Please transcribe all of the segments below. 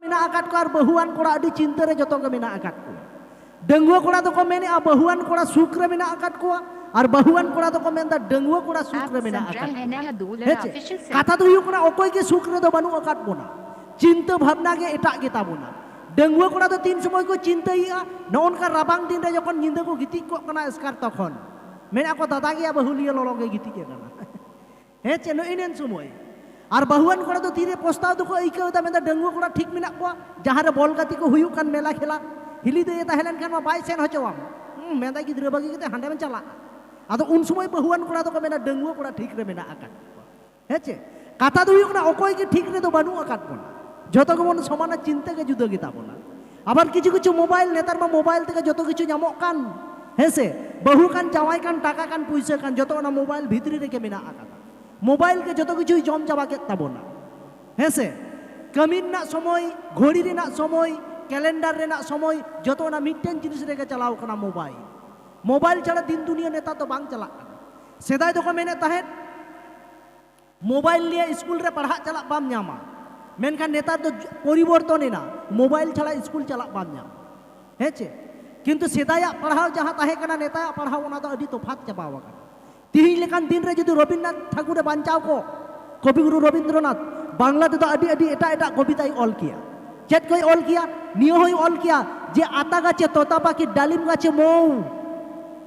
ᱢᱮᱱᱟᱜ ᱟᱠᱟᱫ ᱠᱚᱣᱟ ᱟᱨ ᱵᱟᱹᱦᱩᱣᱟᱱ ᱠᱚᱲᱟ ᱟᱹᱰᱤ ᱪᱤᱱᱛᱟᱹ ᱨᱮ ᱡᱚᱛᱚ ᱜᱮ ᱢᱮᱱᱟᱜ ᱟᱠᱟᱫ ᱠᱚᱣᱟ ᱰᱟᱺᱜᱩᱣᱟᱹ ᱠᱚᱲᱟ ᱫᱚᱠᱚ ᱢᱮᱱᱮᱜᱼᱟ ᱵᱟᱹᱦᱩᱣᱟᱱ ᱠᱚᱲᱟ ᱥᱩᱠ ᱨᱮ ᱢᱮᱱᱟᱜ ᱟᱠᱟᱫ ᱠᱚᱣᱟ ᱟᱨ ᱵᱟᱹᱦᱩᱣᱟᱱ ᱠᱚᱲᱟ ᱫᱚᱠᱚ ᱢᱮᱱᱫᱟ ᱰᱟᱺᱜᱩᱣᱟᱹ ᱠᱚᱲᱟ ᱥᱩᱠ ᱨᱮ ᱢᱮᱱᱟᱜ ᱟᱠᱟᱫ ᱦᱮᱸᱪᱮ ᱠᱟᱛᱷᱟ ᱫᱚ ᱦᱩᱭᱩᱜ ᱠᱟᱱᱟ ᱚᱠᱚᱭ ᱜᱮ ᱥᱩᱠ ᱨᱮᱫᱚ ᱵᱟᱹᱱᱩᱜ ᱟᱠᱟᱫ ᱵᱚᱱᱟ ᱪᱤᱱᱛᱟᱹ ᱵᱷᱟᱵᱽᱱᱟ ᱜᱮ ᱮᱴᱟᱜ ᱜᱮ ᱛᱟᱵᱚᱱᱟ ᱰᱟᱺᱜᱩᱣᱟᱹ ᱠᱚᱲᱟ ᱫᱚ ᱛᱤᱱ ᱥᱚᱢᱚᱭ ᱠᱚ ᱪᱤᱱᱛᱟᱹᱭᱮᱜᱼᱟ ᱱᱚᱜᱼᱚ ᱱᱚᱝᱠᱟ ᱨᱟᱵᱟᱝ ᱫᱤᱱ ᱨᱮ ᱡᱚᱠᱷᱚᱱ ᱧᱤᱫᱟᱹ ᱠᱚ ᱜᱤᱛᱤᱡ ᱠᱚᱜ ᱠᱟᱱᱟ ᱮᱥᱠᱟᱨ ᱛᱚᱠᱷᱚᱱ ᱢᱮᱱᱟᱜ ᱠᱚ ᱫᱟᱫᱟ ᱜᱮᱭᱟ ᱵᱟᱹᱦᱩᱞᱤᱭᱟᱹ ᱞᱚᱞᱚ ᱜᱮ ᱜᱤᱛᱤᱡ ᱟᱠᱟᱱᱟ ᱦᱮᱸ ᱪᱮᱫ ᱱᱚᱜᱼᱚᱭ ᱤᱱᱟᱹᱱ ᱥᱚᱢᱚᱭ ᱟᱨ ᱵᱟᱹᱦᱩᱣᱟᱱ ᱠᱚᱲᱟ ᱫᱚ ᱛᱤᱨᱮ ᱯᱚᱥᱛᱟᱣ ᱫᱚᱠᱚ ᱟᱹᱭᱠᱟᱹᱣ ᱮᱫᱟ ᱢᱮᱱᱫᱟ ᱰᱟᱺᱜᱩᱣᱟᱹ ᱠᱚᱲᱟ ᱴᱷᱤᱠ ᱢᱮᱱᱟᱜ ᱠᱚᱣᱟ ᱡᱟᱦᱟᱸ ᱨᱮ ᱵᱚᱞ ᱜᱟᱛᱮ ᱠᱚ ᱦᱩᱭᱩᱜ ᱠᱟᱱ ᱢᱮᱞᱟ ᱠᱷᱮᱞᱟ ᱦᱤᱞᱤ ᱫᱟᱹᱭᱮ ᱛᱟᱦᱮᱸ ᱞᱮᱱᱠᱷᱟᱱ ᱢᱟ ᱵᱟᱭ ᱥᱮᱱ ᱦᱚᱪᱚᱣᱟᱢ ᱢᱮᱱᱫᱟᱭ ᱜᱤᱫᱽᱨᱟᱹ ᱵᱟᱹᱜᱤ ᱠᱟᱛᱮ ᱦᱟᱸᱰᱮ ᱵᱮᱱ ᱪᱟᱞᱟᱜᱼᱟ ᱟᱫᱚ ᱩᱱ ᱥᱚᱢᱚᱭ ᱵᱟᱹᱦᱩᱣᱟᱱ ᱠᱚᱲᱟ ᱫᱚᱠᱚ ᱢᱮᱱᱟ ᱰᱟᱺᱜᱩᱣᱟᱹ ᱠᱚᱲᱟ ᱴᱷᱤᱠ ᱨᱮ ᱢᱮᱱᱟᱜ ᱟᱠᱟᱫ ᱠᱚᱣᱟ ᱦᱮᱸ ᱪᱮ ᱠᱟᱛᱷᱟ ᱫᱚ ᱦᱩᱭᱩᱜ ᱠᱟᱱᱟ ᱚᱠᱚᱭ ᱜᱮ ᱴᱷᱤᱠ ᱨᱮᱫᱚ ᱵᱟᱹᱱᱩᱜ ᱟᱠᱟᱫ ᱵᱚᱱᱟ ᱡᱚᱛᱚ ᱜᱮᱵᱚᱱ ᱥᱚᱢᱟᱱᱟ ᱪᱤᱱᱛᱟᱹ ᱜᱮ ᱡᱩᱫᱟᱹ ᱜᱮᱛᱟ ᱵᱚᱱᱟ ᱟᱵᱟᱨ ᱠᱤᱪᱷᱩ ᱠᱤᱪᱷᱩ ᱢᱳᱵᱟᱭᱤᱞ ᱱᱮᱛᱟᱨ ᱢᱟ ᱢᱳᱵᱟᱭᱤᱞ ᱛᱮᱜᱮ ᱡᱚᱛᱚ ᱠᱤᱪᱷᱩ ᱧᱟᱢᱚᱜ ᱠᱟᱱ ᱦᱮᱸ ᱥᱮ ᱵᱟᱹᱦᱩ ᱠᱟᱱ ᱡᱟᱶᱟᱭ ᱠᱟᱱ ᱴᱟᱠᱟ ᱠᱟᱱ ᱯᱩᱭᱥᱟᱹ ᱠᱟᱱ ᱡᱚᱛᱚ ᱚᱱᱟ ᱢᱳᱵᱟᱭᱤᱞ ᱵᱷᱤᱛᱨᱤ ᱨᱮᱜᱮ ᱢᱮᱱᱟᱜ ᱟᱠᱟᱫᱟ ᱢᱳᱵᱟᱭᱤᱞ ᱜᱮ ᱡᱚᱛᱚ ᱠᱤᱪᱷᱩᱭ ᱡᱚᱢ ᱪᱟᱵᱟ ᱠᱮᱫ ᱛᱟᱵᱚᱱᱟ ᱦᱮᱸ ᱥᱮ ᱠᱟᱹᱢᱤ ᱨᱮᱱᱟᱜ ᱥᱚᱢᱚᱭ ᱜᱷᱚᱲᱤ ᱨᱮᱱᱟᱜ ᱥᱚᱢᱚᱭ ᱠᱮᱞᱮᱱᱰᱟᱨ ᱨᱮᱱᱟᱜ ᱥᱚᱢᱚᱭ ᱡᱚᱛᱚ ᱚᱱᱟ ᱢᱤᱫᱴᱮᱱ ᱡᱤᱱᱤᱥ ᱨᱮᱜᱮ ᱪᱟᱞᱟᱣ ᱠᱟᱱᱟ ᱢᱳᱵᱟᱭᱤᱞ ᱢᱳᱵᱟᱭᱤᱞ ᱪᱷᱟᱲᱟ ᱫᱤᱱ ᱫᱩᱱᱤᱭᱟᱹ ᱱᱮᱛᱟᱨ ᱫᱚ ᱵᱟᱝ ᱪᱟᱞᱟᱜ ᱠᱟᱱᱟ ᱥᱮᱫᱟᱭ ᱫᱚᱠᱚ ᱢᱮᱱᱮᱫ ᱛᱟᱦᱮᱸᱫ ᱢᱳᱵᱟᱭᱤᱞ ᱱᱤᱭᱮ ᱥᱠᱩᱞ ᱨᱮ ᱯᱟᱲᱦᱟᱜ ᱪᱟᱞᱟᱜ ᱵᱟᱢ ᱧᱟᱢᱟ ᱢᱮᱱᱠᱷᱟᱱ ᱱᱮᱛᱟᱨ ᱫᱚ ᱯᱚᱨᱤᱵᱚᱨᱛᱚᱱ ᱮᱱᱟ ᱢᱳᱵᱟᱭᱤᱞ ᱪᱷᱟᱲᱟ ᱥᱠᱩᱞ ᱪᱟᱞᱟᱜ ᱵᱟᱢ ᱧᱟᱢᱟ ᱦᱮᱸ ᱪᱮ ᱠᱤᱱᱛᱩ ᱥᱮᱫᱟᱭᱟᱜ ᱯᱟᱲᱦᱟᱣ ᱡᱟᱦᱟᱸ ᱛᱟᱦᱮᱸ ᱠᱟᱱᱟ ᱱᱮᱛᱟᱨᱟᱜ ᱯᱟᱲᱦᱟᱣ ᱚᱱᱟ ᱫᱚ ᱟᱹᱰᱤ ᱛᱚᱯᱷᱟᱛ ᱪᱟᱵᱟ ᱟᱠᱟᱱᱟ ᱛᱤᱦᱤᱧ ᱞᱮᱠᱟᱱ ᱫᱤᱱ ᱨᱮ ᱡᱩᱫᱤ ᱨᱚᱵᱤᱱᱫᱨᱚᱱᱟᱛᱷ ᱴᱷᱟᱠᱩᱨ ᱮ ᱵᱟᱧᱪᱟᱣ ᱠᱚ ᱠᱚᱵᱤᱜᱩᱨᱩ ᱨᱚᱵᱤᱱᱫᱨᱚᱱᱟᱛᱷ ᱵᱟᱝᱞᱟ ᱛᱮᱫᱚ ᱟᱹᱰᱤ ᱟᱹᱰᱤ ᱮᱴᱟᱜ ᱮᱴᱟᱜ ᱠᱚᱵᱤᱛᱟᱭ ᱚᱞ ᱠᱮᱭᱟ ᱪᱮᱫ ᱠᱚᱭ ᱚᱞ ᱠᱮᱭᱟ ᱱᱤᱭᱟᱹ ᱦᱚᱸᱭ ᱚᱞ ᱠᱮᱭᱟ ᱡᱮ ᱟᱛᱟ ᱜᱟᱪᱷᱮ ᱛᱚᱛᱟ ᱯᱟᱠᱷᱤ ᱰᱟᱞᱤᱢ ᱜᱟᱪᱷᱮ ᱢᱚᱣ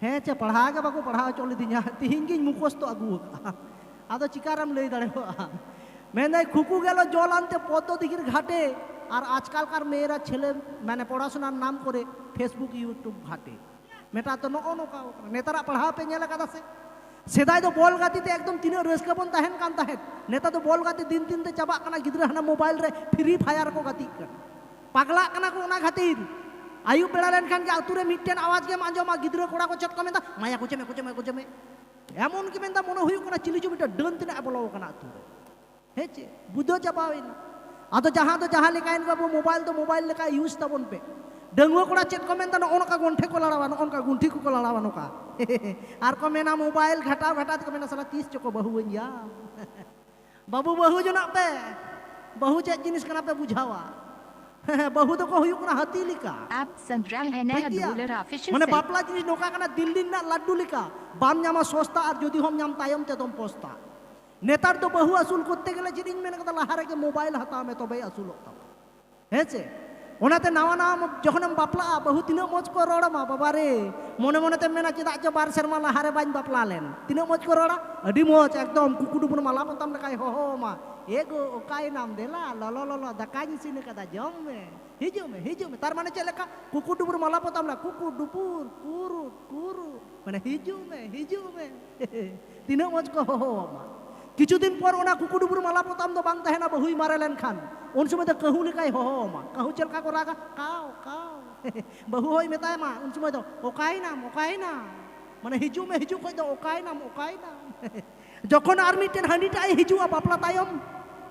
ᱦᱮᱸ ᱪᱮ ᱯᱟᱲᱦᱟᱣ ᱜᱮ ᱵᱟᱠᱚ ᱯᱟᱲᱦᱟᱣ ᱦᱚᱪᱚ ᱞᱤᱫᱤᱧᱟ ᱛᱤᱦᱤᱧ ᱜᱤᱧ ᱢᱩᱠᱷᱚᱥᱛᱚ ᱟᱹᱜᱩ ᱟᱠᱟᱫᱼᱟ ᱟᱫᱚ ᱪᱤᱠᱟᱨᱮᱢ ᱞᱟᱹᱭ ᱫᱟᱲᱮᱭᱟᱜᱼᱟ ᱢᱮᱱᱫᱟᱭ ᱠᱷᱩᱠᱩ ᱜᱮᱞ ᱡᱚᱞ ᱟᱱᱛᱮ ᱯᱚᱫᱽᱫᱚ ᱫᱤᱜᱤᱨ ᱜᱷᱟᱴᱮ ᱟᱨ ᱟᱡᱠᱟᱞᱠᱟᱨ ᱢᱮᱭᱮᱨᱟ ᱪᱷᱮᱞᱮ ᱢᱟᱱᱮ ᱯᱚᱲᱟᱥᱩᱱᱟ ᱱᱟᱢ ᱠᱚᱨᱮ ᱯᱷᱮᱥᱵᱩᱠ ᱤᱭᱩᱴᱩᱵ ᱜᱷᱟᱴᱮ ᱢᱮᱴᱟ ᱛᱚ ᱱᱚᱜᱼᱚ ᱱᱚᱝᱠᱟ ᱱᱮᱛᱟᱨᱟᱜ ᱯᱟᱲᱦᱟᱣ ᱯᱮ ᱧᱮᱞ ᱟᱠᱟᱫᱟ ᱥᱮ ᱥᱮᱫᱟᱭ ᱫᱚ ᱵᱚᱞ ᱜᱟᱛᱮ ᱛᱮ ᱮᱠᱫᱚᱢ ᱛᱤᱱᱟᱹᱜ ᱨᱟᱹᱥᱠᱟᱹ ᱵᱚᱱ ᱛᱟᱦᱮᱱ ᱠᱟᱱ ᱛᱟᱦᱮᱸᱫ ᱱᱮᱛᱟᱨ ᱫᱚ ᱵᱚᱞ ᱜᱟᱛᱮ ᱫᱤᱱ ᱫᱤᱱ ᱛᱮ ᱪᱟᱵᱟᱜ ᱠᱟᱱᱟ ᱜᱤᱫᱽᱨᱟᱹ ᱦᱟᱱᱟ ᱢᱳᱵᱟᱭᱤᱞ ᱨᱮ ᱯᱷᱨᱤ ᱯᱷᱟᱭᱟᱨ ᱠᱚ ᱜᱟᱛᱮᱜ ᱠᱟᱱᱟ ᱯᱟᱜᱽᱞᱟᱜ ᱠᱟᱱᱟ ᱠᱚ ᱚᱱᱟ ᱠᱷᱟᱹᱛᱤᱨ ᱟᱭᱩᱵ ᱵᱮᱲᱟ ᱞᱮᱱᱠᱷᱟᱱ ᱜᱮ ᱟᱹᱛᱩ ᱨᱮ ᱢᱤᱫᱴᱮᱱ ᱟᱣᱟᱡᱽ ᱜᱮᱢ ᱟᱸᱡᱚᱢᱟ ᱜᱤᱫᱽᱨᱟᱹ ᱠᱚᱲᱟ ᱠᱚ ᱪᱮᱫ ᱠᱚ ᱢᱮᱱᱫᱟ ᱢᱟᱭᱟ ᱠᱚᱪᱮ ᱢᱮ ᱠᱚᱪᱮ ᱢᱮ ᱠᱚᱪᱮ ᱢᱮ ᱮᱢᱚᱱ ᱜᱮ ᱢᱮᱱᱫᱟ ᱢᱚᱱᱮ ᱦᱩᱭᱩᱜ ᱠᱟᱱᱟ ᱪᱤᱞᱤ ᱪᱚ ᱢᱤᱫᱴᱮᱱ ᱰᱟᱹᱱ ᱛᱤᱱᱟᱹᱜ ᱮ ᱵᱚᱞᱚ ᱟᱠᱟᱱᱟ ᱟᱹᱛᱩ ᱨᱮ ᱦᱮᱸ ᱪᱮ ᱵᱩᱫᱟᱹ ᱪᱟᱵᱟᱣᱮᱱᱟ ᱟᱫᱚ ᱡᱟᱦᱟᱸ ᱫᱚ ᱡᱟᱦᱟᱸ ᱞᱮᱠᱟᱭᱮᱱ ᱵᱟᱵᱚ ᱢᱳᱵᱟᱭᱤᱞ ᱫᱚ ᱢᱳᱵᱟᱭᱤᱞ ᱞᱮᱠᱟ ᱤᱭᱩᱡᱽ ᱛᱟᱵᱚᱱ ᱯᱮ ᱰᱟᱹᱝᱜᱩᱣᱟᱹ ᱠᱚᱲᱟ ᱪᱮᱫ ᱠᱚ ᱢᱮᱱᱫᱟ ᱱᱚᱜᱼᱚ ᱱᱚᱝᱠᱟ ᱜᱚᱱᱴᱷᱮ ᱠᱚ ᱞᱟᱲᱟᱣᱟ ᱱᱚᱜᱼᱚ ᱱᱚᱝᱠᱟ ᱜᱩᱱᱴᱷᱤ ᱠᱚᱠᱚ ᱞᱟᱲᱟᱣᱟ ᱱᱚᱝᱠᱟ ᱟᱨ ᱠᱚ ᱢᱮᱱᱟ ᱢᱳᱵᱟᱭᱤᱞ ᱜᱷᱟᱴᱟᱣ ᱜᱷᱟᱴᱟᱣ ᱛᱮᱠᱚ ᱢᱮᱱᱟ ᱥᱟᱞᱟ ᱛᱤᱥ ᱪᱚᱠᱚ ᱵᱟᱹᱦᱩᱣᱟᱹᱧ ᱭᱟ ᱵᱟᱹᱵᱩ ᱵᱟᱹᱦᱩ ᱡᱚᱱᱟᱜ ᱯᱮ ᱵᱟᱹᱦᱩ ᱪᱮᱫ ᱡᱤᱱᱤᱥ ᱠᱟᱱᱟ ᱯᱮ ᱵᱩᱡᱷᱟᱣᱟ ᱵᱟᱹᱦᱩ ᱫᱚᱠᱚ ᱦᱩᱭᱩᱜ ᱠᱟᱱᱟ ᱦᱟᱹᱛᱤ ᱞᱮᱠᱟ ᱟᱯ ᱥᱟᱱᱨᱟᱝ ᱮᱱᱮ ᱫᱩᱞᱟᱨ ᱚᱯᱷᱤᱥᱤᱭᱟᱞ ᱢᱟᱱᱮ ᱵᱟᱯᱞᱟ ᱡᱤᱱᱤᱥ ᱱᱚᱝᱠᱟ ᱠᱟᱱᱟ ᱫᱤᱞᱞᱤ ᱨᱮᱱᱟᱜ ᱞᱟᱰᱰᱩ ᱞᱮᱠᱟ ᱵᱟᱢ ᱧᱟᱢᱟ ᱥᱚᱥᱛᱟ ᱟᱨ ᱡᱩᱫᱤ ᱦᱚᱢ ᱧᱟᱢ ᱛᱟᱭᱚᱢ ᱛᱮ ᱫᱚᱢ ᱯᱚᱥᱛᱟ ᱱᱮᱛᱟᱨ ᱫᱚ ᱵᱟᱹᱦᱩ ᱟᱹᱥᱩᱞ ᱠᱚᱨᱛᱮ ᱜᱮᱞᱮ ᱪᱮᱫ ᱤᱧ ᱢᱮᱱ ᱠᱟᱫᱟ ᱞᱟᱦᱟ ᱨᱮᱜᱮ ᱢᱳᱵᱟᱭᱤᱞ ᱦᱟᱛᱟᱣ ᱢᱮ ᱛᱚᱵᱮᱭ ᱟᱹᱥᱩᱞᱚᱜ ᱛᱟᱢᱟ ᱦᱮᱸ ᱪᱮ ᱚᱱᱟᱛᱮ ᱱᱟᱣᱟ ᱱᱟᱣᱟ ᱡᱚᱠᱷᱚᱱᱮᱢ ᱵᱟᱯᱞᱟᱜᱼᱟ ᱵᱟᱹᱦᱩ ᱛᱤᱱᱟᱹᱜ ᱢᱚᱡᱽ ᱠᱚ ᱨᱚᱲ ᱟᱢᱟ ᱵᱟᱵᱟ ᱨᱮ ᱢᱚᱱᱮ ᱢᱚᱱᱮ ᱛᱮᱢ ᱢᱮᱱᱟ ᱪᱮᱫᱟᱜ ᱪᱚ ᱵᱟᱨ ᱥᱮᱨᱢᱟ ᱞᱟᱦᱟ ᱨᱮ ᱵᱟᱹᱧ ᱵᱟᱯᱞᱟ ᱞᱮᱱ ᱛᱤᱱᱟᱹᱜ ᱢᱚᱡᱽ ᱠᱚ ᱨᱚᱲᱟ ᱟᱹᱰᱤ ᱢᱚᱡᱽ ᱮᱠᱫᱚᱢ ᱠᱩᱠᱩᱰᱩᱵᱩᱨ ᱢᱟᱞᱟ ᱯᱚᱛᱟᱢ ᱞᱮᱠᱟᱭ ᱦᱚᱦᱚ ᱟᱢᱟ ᱮ ᱜᱚ ᱚᱠᱟᱭᱮᱱᱟᱢ ᱫᱮᱞᱟ ᱞᱚᱞᱚ ᱞᱚᱞᱚ ᱫᱟᱠᱟᱧ ᱤᱥᱤᱱ ᱟᱠᱟᱫᱟ ᱡᱚᱢ ᱢᱮ ᱦᱤᱡᱩᱜ ᱢᱮ ᱦᱤᱡᱩᱜ ᱢᱮ ᱛᱟᱨ ᱢᱟᱱᱮ ᱪᱮᱫ ᱞᱮᱠᱟ ᱠᱩᱠᱩᱰᱩᱵᱩᱨ ᱢᱟᱞᱟ ᱯᱚᱛᱟᱢ ᱞᱮᱠᱟ ᱠᱩᱠᱩᱰᱩᱵᱩᱨ ᱠᱩᱨᱩᱴ ᱠᱩᱨᱩᱴ ᱢᱟᱱᱮ ᱦᱤᱡᱩᱜ ᱢᱮ ᱦᱤᱡᱩᱜ ᱢᱮ ᱛᱤᱱᱟᱹᱜ ᱢᱚᱡᱽ ᱠᱚ ᱦᱚᱦᱚ ᱟᱢᱟ ᱠᱤᱪᱷᱩ ᱫᱤᱱ ᱯᱚᱨ ᱚᱱᱟ ᱠᱩᱠᱩᱰᱩᱵᱩᱨ ᱢᱟᱞᱟ ᱯᱚᱛᱟᱢ ᱫᱚ ᱵᱟᱝ ᱛᱟᱦᱮᱱᱟ ᱵᱟᱹᱦᱩᱭ ᱢᱟᱨᱮ ᱞᱮᱱᱠᱷᱟᱱ ᱩᱱ ᱥᱚᱢᱚᱭ ᱫᱚ ᱠᱟᱹᱦᱩ ᱞᱮᱠᱟᱭ ᱦᱚᱦᱚ ᱟᱢᱟ ᱠᱟᱹᱦᱩ ᱪᱮᱫ ᱞᱮᱠᱟ ᱠᱚ ᱨᱟᱜᱟ ᱠᱟᱣ ᱠᱟᱣ ᱵᱟᱹᱦᱩ ᱦᱚᱸᱭ ᱢᱮᱛᱟᱭ ᱢᱟ ᱩᱱ ᱥᱚᱢᱚᱭ ᱫᱚ ᱚᱠᱟᱭᱮᱱᱟᱢ ᱚᱠᱟᱭᱮᱱᱟᱢ ᱢᱟᱱᱮ ᱦᱤᱡᱩᱜ ᱢᱮ ᱦᱤᱡᱩᱜ ᱠᱷᱚᱡ ᱫᱚ ᱚᱠᱟᱭᱮᱱᱟᱢ ᱚᱠᱟᱭᱮᱱᱟᱢ ᱡᱚᱠᱷᱚᱱ ᱟᱨ ᱢᱤᱫᱴᱮᱱ ᱦᱟᱺᱰᱤᱴᱟᱜ ᱮ ᱦᱤᱡᱩᱜᱼᱟ ᱵᱟᱯᱞᱟ ᱛᱟᱭᱚᱢ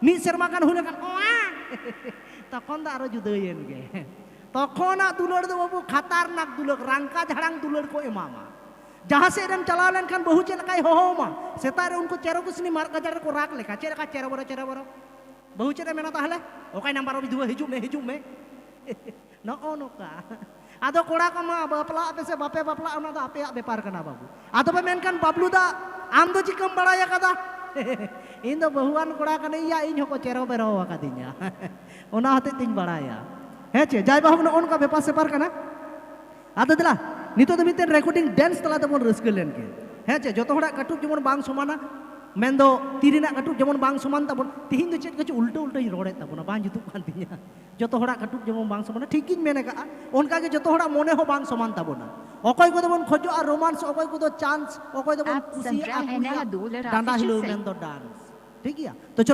ᱢᱤᱫ ᱥᱮᱨᱢᱟ ᱜᱟᱱ ᱦᱩᱭ ᱞᱮᱱᱠᱷᱟᱱ ᱚᱣᱟ ᱛᱚᱠᱷᱚᱱ ᱫᱚ ᱟᱨᱚ ᱡᱩᱫᱟᱹᱭᱮᱱ ᱜᱮ ᱛᱚᱠᱷᱚᱱᱟᱜ ᱫᱩᱞᱟᱹᱲ ᱫᱚ ᱵᱟᱹᱵᱩ ᱠᱷᱟᱛᱟᱨᱱᱟᱠ ᱫᱩᱞᱟᱹᱲ ᱨᱟᱝᱠᱟ ᱡᱷᱟᱲᱟᱝ ᱫᱩᱞᱟᱹᱲ ᱠᱚ ᱮᱢᱟᱢᱟ ᱡᱟᱦᱟᱸ ᱥᱮᱫ ᱨᱮᱢ ᱪᱟᱞᱟᱣ ᱞᱮᱱᱠᱷᱟᱱ ᱵᱟᱹᱦᱩ ᱪᱮᱫ ᱞᱮᱠᱟᱭ ᱦᱚᱦᱚᱣᱟᱢᱟ ᱥᱮᱛᱟᱜ ᱨᱮ ᱩᱱᱠᱩ ᱪᱮᱨᱚ ᱠᱩᱥᱱᱤ ᱢᱟᱨᱟᱜ ᱜᱟᱡᱟᱲ ᱨᱮᱠᱚ ᱨᱟᱜᱽ ᱞᱮᱠᱟ ᱪᱮᱫ ᱞᱮᱠᱟ ᱪᱮᱨᱚ ᱵᱚᱨᱚ ᱪᱮᱨᱚ ᱵᱚᱨᱚ ᱵᱟᱹᱦᱩ ᱪᱮᱫ ᱮ ᱢᱮᱱᱟ ᱛᱟᱦᱚᱞᱮ ᱚᱠᱟᱭ ᱱᱟᱢᱵᱟᱨ ᱵᱤᱫᱷᱩᱣᱟᱹ ᱦᱤᱡᱩᱜ ᱢᱮ ᱦᱤᱡᱩᱜ ᱢᱮ ᱱᱚᱜᱼᱚ ᱱᱚᱝᱠᱟ ᱟᱫᱚ ᱠᱚᱲᱟ ᱠᱚᱢᱟ ᱵᱟᱯᱞᱟᱜ ᱟᱯᱮ ᱥᱮ ᱵᱟᱯᱮ ᱵᱟᱯᱞᱟᱜᱼᱟ ᱚᱱᱟ ᱫᱚ ᱟᱯᱮᱭᱟᱜ ᱵᱮᱯᱟᱨ ᱠᱟᱱᱟ ᱵᱟᱹᱵᱩ ᱟᱫᱚ ᱯᱮ ᱢᱮᱱᱠᱷᱟᱱ ᱵᱟᱵᱞᱩ ᱫᱟ ᱟᱢ ᱫᱚ ᱪᱤᱠᱟᱹᱢ ᱵᱟᱲᱟᱭ ᱟᱠᱟᱫᱟ ᱤᱧ ᱫᱚ ᱵᱟᱹᱦᱩᱣᱟᱱ ᱠᱚᱲᱟ ᱠᱟᱹᱱᱟᱹᱧ ᱭᱟ ᱤᱧ ᱦᱚᱸᱠᱚ ᱪᱮᱨᱚ ᱵᱮᱨᱚ ᱟᱠᱟᱫᱤᱧᱟ ᱚᱱᱟ ᱦᱚᱛᱮᱡ ᱛᱤᱧ ᱵᱟᱲᱟᱭᱟ ᱦᱮᱸ ᱪᱮ ᱡᱟᱭ ᱵᱟᱹᱦᱩ ᱱᱚᱜᱼᱚ ᱱᱚᱝᱠᱟ ᱵᱮᱯᱟᱨ ᱥᱮᱯᱟᱨ ᱠᱟᱱᱟ ᱟᱫᱚ ᱫᱮᱞᱟ ᱱᱤᱛᱚᱜ ᱫᱚ ᱢᱤᱫᱴᱮᱱ ᱨᱮᱠᱚᱨᱰᱤᱝ ᱰᱮᱱᱥ ᱛᱟᱞᱟ ᱛᱮᱵᱚᱱ ᱨᱟᱹᱥᱠᱟᱹ ᱞᱮᱱ ᱜᱮ ᱦᱮᱸ ᱪᱮ ᱡᱚᱛᱚ ᱦᱚᱲᱟᱜ ᱠᱟᱹᱴᱩᱵ ᱡᱮᱢᱚᱱ ᱵᱟᱝ ᱥᱚᱢᱟᱱᱟ ᱢᱮᱱᱫᱚ ᱛᱤ ᱨᱮᱱᱟᱜ ᱠᱟᱹᱴᱩᱵ ᱡᱮᱢᱚᱱ ᱵᱟᱝ ᱥᱚᱢᱟᱱ ᱛᱟᱵᱚᱱ ᱛᱤᱦᱤᱧ ᱫᱚ ᱪᱮᱫ ᱠᱚᱪᱚ ᱩᱞᱴᱟᱹ ᱩᱞᱴᱟᱹᱧ ᱨᱚᱲᱮᱫ ᱛᱟᱵᱚᱱᱟ ᱵᱟᱝ ᱡᱩᱛᱩᱜ ᱠᱟᱱ ᱛᱤᱧᱟ ᱡᱚᱛᱚ ᱦᱚᱲᱟᱜ ᱠᱟᱹᱴᱩᱵ ᱡᱮᱢᱚᱱ ᱵᱟᱝ ᱥᱚᱢᱟᱱᱟ ᱴᱷᱤᱠ ᱜᱤᱧ ᱢᱮᱱ ᱟᱠᱟᱫᱼᱟ ᱚᱱᱠᱟ ᱜᱮ ᱡᱚᱛᱚ ᱦᱚᱲᱟᱜ ᱢᱚᱱᱮ ᱦᱚᱸ ᱵᱟᱝ ᱥᱚᱢᱟᱱ ᱛᱟᱵᱚᱱᱟ ᱚᱠᱚᱭ ᱠᱚᱫᱚ ᱵᱚᱱ ᱠᱷᱚᱡᱚᱜᱼᱟ ᱨᱳᱢᱟᱱᱥ ᱚᱠᱚᱭ ᱠᱚᱫᱚ ᱪᱟᱱᱥ ᱚᱠᱚᱭ ᱫᱚᱵᱚᱱ ᱠᱩᱥᱤᱭᱟᱜᱼᱟ ᱰᱟᱸᱰᱟ ᱦᱤᱞᱟᱹᱣ ᱢᱮᱱᱫᱚ ᱰᱟᱱᱥ ᱴᱷᱤᱠ ᱜᱮᱭᱟ ᱛᱚ ᱪᱚᱞᱚ